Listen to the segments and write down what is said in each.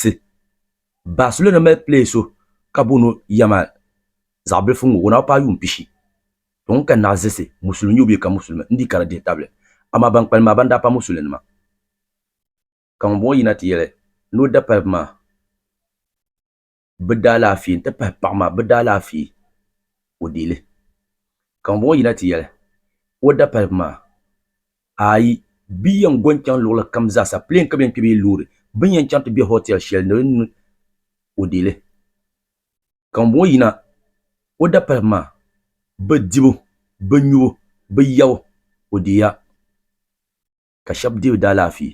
ti. Barcelona mali player so ka booni o Yamal, zaɣ bilifu ŋɔ o na bi paai yuun pishi. Tɔ ŋun ka naɣiziɣisi, musulim nye o bee ka musulimi, n dii kara dihi tabili. Amaa ban kpalim maa ban daa pa musulinima. Ka ŋun bɔŋɔ yina ti yɛli ni o dapariba maa bi daalaafee n ti pahi paɣa maa bi daalaafee o deei li. Ka ŋun bɔŋɔ yina ti yɛli o dapariba maa. Aai, bɛ yɛn go n-chaŋ luɣili kam zaasa, plane ka bɛ yɛn kpe bee loori. Bɛ ni yɛn chaŋ ti be hotel shɛli ni di ni o deei li. Ka ŋun bɔŋɔ yina o dapaligu maa, bɛ dibu, bɛ nyubu, bɛ yabu, o deei ya. Ka shɛba deei daalaafee.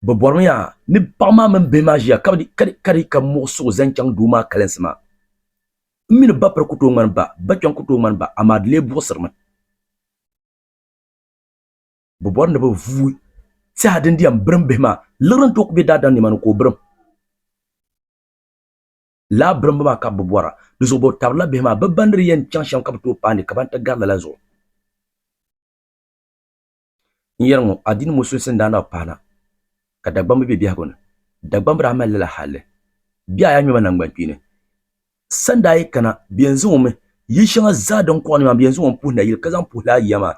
Bɛ bɔrimi yaa ni paɣ maa mini bihi maa ʒiya ka di ka muɣ suɣu zaŋ chaŋ doo maa kalinsi maa. M mi ni ba piri ku tooi ŋmani ba, ba kpiɔŋ ku tooi ŋmani ba, amaa di lee buɣisirimi. Bɛ bɔri ni bɛ vuui tɛha din di yɛn birim bihi maa, liɣiri n-tooi ku be daadam nima ni ka o birim. Lala birimbu maa ka bɛ bɔra. Di zuɣu bɛ tabirila bihi maa, bɛ ba ni di yɛn chaŋ shɛm ka bɛ tooi paai ni ka ban ti gari lala zuɣu. N yɛri ŋɔ, adiini ŋɔ sunsuuni daa nabi pahina ka Dagbamba be biɛhigu ni. Dagbamba daa mali lala halli. Bɛ a yi a ŋmɛma naŋgbankpeeni, sani daa yi kana, bɛ yɛn zaŋ o mi yili shɛŋa zaa din kɔɣi ni maa, bɛ yɛn zaŋ o m-puhi nayili ka zaŋ puhi laa yiya maa.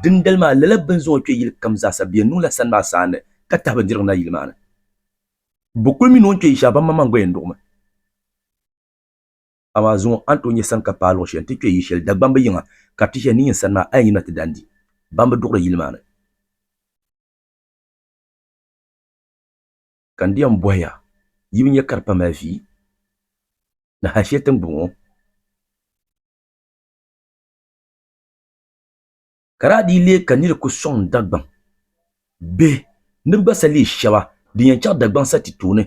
Dindali maa, lala bɛ ni zaŋ o kpe yili kam zaa sa, bɛ yɛn niŋla sani maa saanne ka tahi bindirigu na yili maa ni. Bɛ kul mi ni o ni kpe yi shɛli, baŋmaŋmaŋ gba yɛn duɣimi. Amaa zuŋɔ a ni tooi nyɛ saŋka paai luɣ shɛli nti kpe yi shɛli Dagbamba yiŋa ka ti shɛhi ni yin sani maa, a yi nyina ti daa n-di ban bi duɣiri yili maa ni. Ka n di yɛn bɔhi ya, yi bi nya ka di pa mali vi ni hal shɛli tiŋgbɔŋ ŋɔ? ka daa dii leei ka nir ku sɔŋ Dagbaŋ bihi ni bɛ gba sa leei shɛba din yɛn chaɣ Dagbaŋ sa ti tooni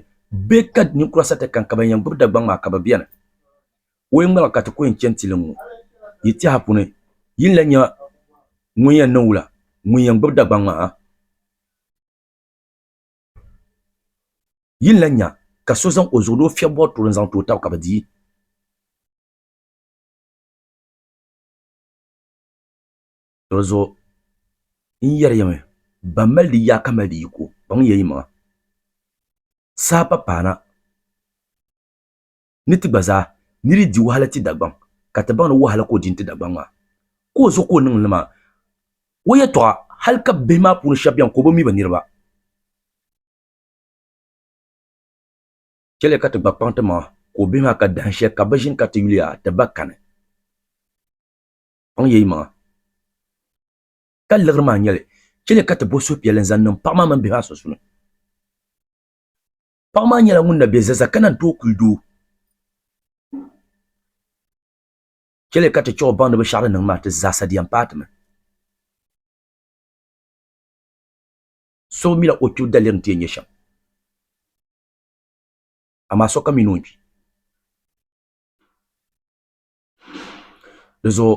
bɛ ka ninkura sa ti kani ka ban yɛn gbibi Dagbaŋ maa ka bɛ beni. O yi ŋmaligi ka ti ku yɛn chani ti liŋ o yi tɛha puuni, yi ni lan nya ŋun yɛn niŋ wula ŋun yɛn gbibi Dagbaŋ maa ha? Yi ni lan nya ka so zaŋ o zuɣu ni o fiɛb bɔri tuuri n-zaŋ ti o taba ka bɛ di yi? Dinzuɣu n yɛri ya mi, Ban mali di yaa ka mali di yiko, kpaŋ ya yimaŋa, saha pa paana ni ti gba zaa ni di di wahala ti Dagbaŋ, ka ti baŋ ni wahala ka o di n-ti Dagbaŋ maa. Ka o zuɣu ka o niŋ li maa, o yɛtɔɣa hali ka bihi maa puuni shɛba beni ka o bi mi bɛ niriba. Chɛliya ka ti gba kpaŋ ti maŋa ka o bihi maa ka dahin shɛli ka bɛ ʒini ka ti yuliya ti ba kani. Kpaŋ ya yi maŋa ka liɣiri maa nyɛli, chɛli ka ti bo suhupiɛlli n-zaŋ niŋ paɣa maa mini bihi maa sunsuuni. Paɣa maa nyɛla ŋun na be zaza ka naan tooi kuli doo. Chɛli ka ti chɛ o baŋ ni binshɛɣu din niŋ maa ti zaasa di yɛn paai ti mi. So bi mila o kpibu daliri ni ti yɛn nyɛ shɛm, amaa sokam mi ni o kpi. Di zuɣu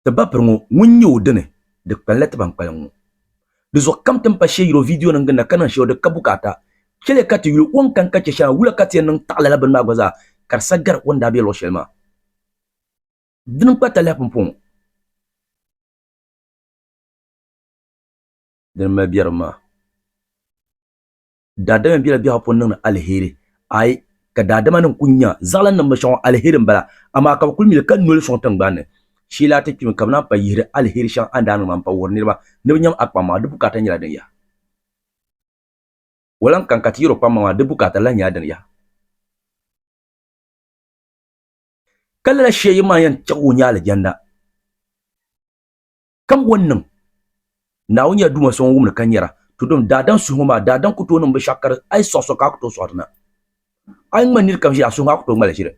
ti ba piri ŋɔ ŋun nyɛ o dini di kpali la ti ban kpalim ŋɔ di zuɣu kam ti ni pa shee yiri o viidiyo nim ginda ka niŋ shɛli o di ka bukaata chɛli ka ti yuli o ni kani ka chɛ shɛli maa wula ka ti yɛn niŋ taɣi lala bini maa gba zaa ka di sa gari o ni daa bɛ luɣu shɛli maa dini n kpa talahi pumpɔ ŋɔ dini n mali biɛrim maa. daadama bela biɛhigu puuni niŋdi aliheri. Aai! Ka daadamanima kuli nya zaɣilaninnim bi shɛŋa aliheri m-bala, amaa ka bɛ kuli mi li ka noli sɔŋ tiŋgbani ni. Shee la a ti kpimi ka bɛ naan pa yihiri aliheri shɛŋa a ni daa niŋ maa m-pa wuhiri niriba ni bɛ nyam a kpaŋ maa, di bukaata nyɛla din yaha? O lan kani ka ti yɛr o kpaŋ maa, di bukaata lan nyɛla din yaha? Ka lala shee yini maa yɛn chɛ ka o nya alijanda. Kam o ni niŋ Naawuni ya Duuma so ŋun wumdi ka nyara, tudim daadam suhiŋɔ maa, daadam ku tooi niŋbi shɛɣu ka di a yi sɔɣi so ka a ku tooi sɔɣi di na. A yi ŋmani nir kam ʒiri, a suhu maa ku tooi ŋmali ʒiri.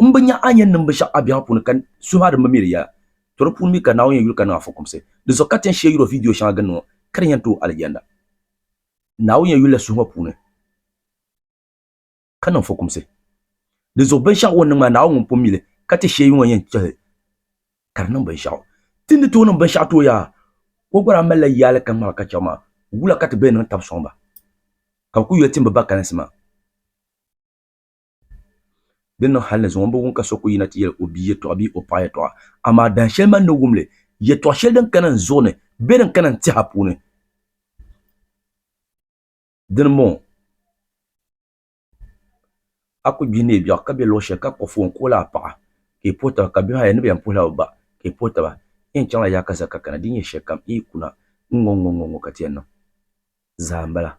M bi nya a ni yɛn niŋbi shɛɣu a biɛhigu puuni ka suhu maa di mi mi di yɛla, to di puuni mi ka Naawuni yɛn yuli ka niŋ a fukumsi. Di zuɣu ka ti yɛn shee yuri o vidiyo shɛŋa gindi ŋɔ ka di yɛn tooi Alijanda. Naawuni yɛn yulila suhu ŋɔ puuni. ka niŋ fukumsi. Di zuɣu binshɛɣu o ni niŋ maa, Naawuni ŋun pun mi li, ka ti sheei ŋɔ yɛn chɛhi ka di niŋ binshɛɣu. Ti ni tooi niŋ binshɛɣu ti o yaa, o gba daa malila yaali ka ŋmabi ka chɛ omaŋ. Wula ka ti bee niŋ tab sɔŋ ba, ka bɛ kul yoli timbu ba kalinsi maa? Di ni niŋ hal ni zuŋɔ m-bi wum ka so kul yina ti yɛli o bia yɛtɔɣa bee o paɣa yɛtɔɣa. Amaa dahin shɛli man ni wum li, yɛtɔɣ shɛli din kana n zuɣu ni bɛ din kana n tɛha puuni. Dini m-bɔŋɔ a kuli gbihi neei biɛɣu ka be luɣ shɛli ka kpuɣi foon ka o lahi paɣi ka i puhi taba ka bihi ayi ni be yɛn puhila bɛ ba ka i puhi taba n yɛn chaŋla yaha ka za ka kana di nyɛ shɛlikam n yi ku na ŋ-ŋɔ-ŋ-ŋɔ ka ti yɛn niŋ zaa m-bala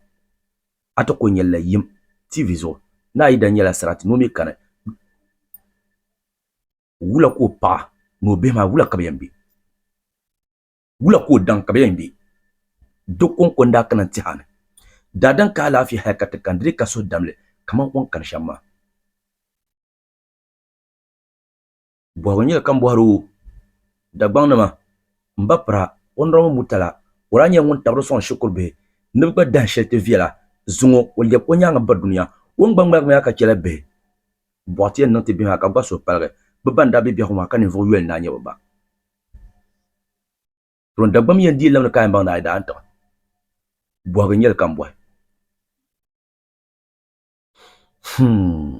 a ti kuli nyɛlila yim TV zuɣu ni a yidana nyɛla sarati ni o mi kani wula ka o paɣa ni o bihi maa wula ka bɛ yɛn be Wula ka o daŋ ka bɛ yɛn gbe? Do kɔŋko n-daa kana n-ti a ni daa daŋ ka alaafee hal ka ti kani di ni ka suhudam li kaman o ni kani shɛm maa. Bɔhigu nyɛla ka m bɔhir o Dagbaŋnima, M ba Pira, Ɔnɔrabili Murtala, o daa nyɛla ŋun tabiri sɔŋ shikuru bihi ni bɛ gba dahin shɛli ti viɛla zuŋɔ o lɛbi o nyaaŋa ba dunia. O ni gba ŋmaligi maa ka chɛla bihi bɔɣiti yɛn niŋ ti bihi maa ka gba suhu paligi bɛ ban daa be biɛhigu maa ka ninvuɣ yoli n-daa nyɛ bɛ ba. Tɔɔ Dagbam yɛn dii lamdi Kaayimbaŋ ni a yi daa n-tiɣi bɔhigu n-nyɛ li ka m-bɔhi. Humm.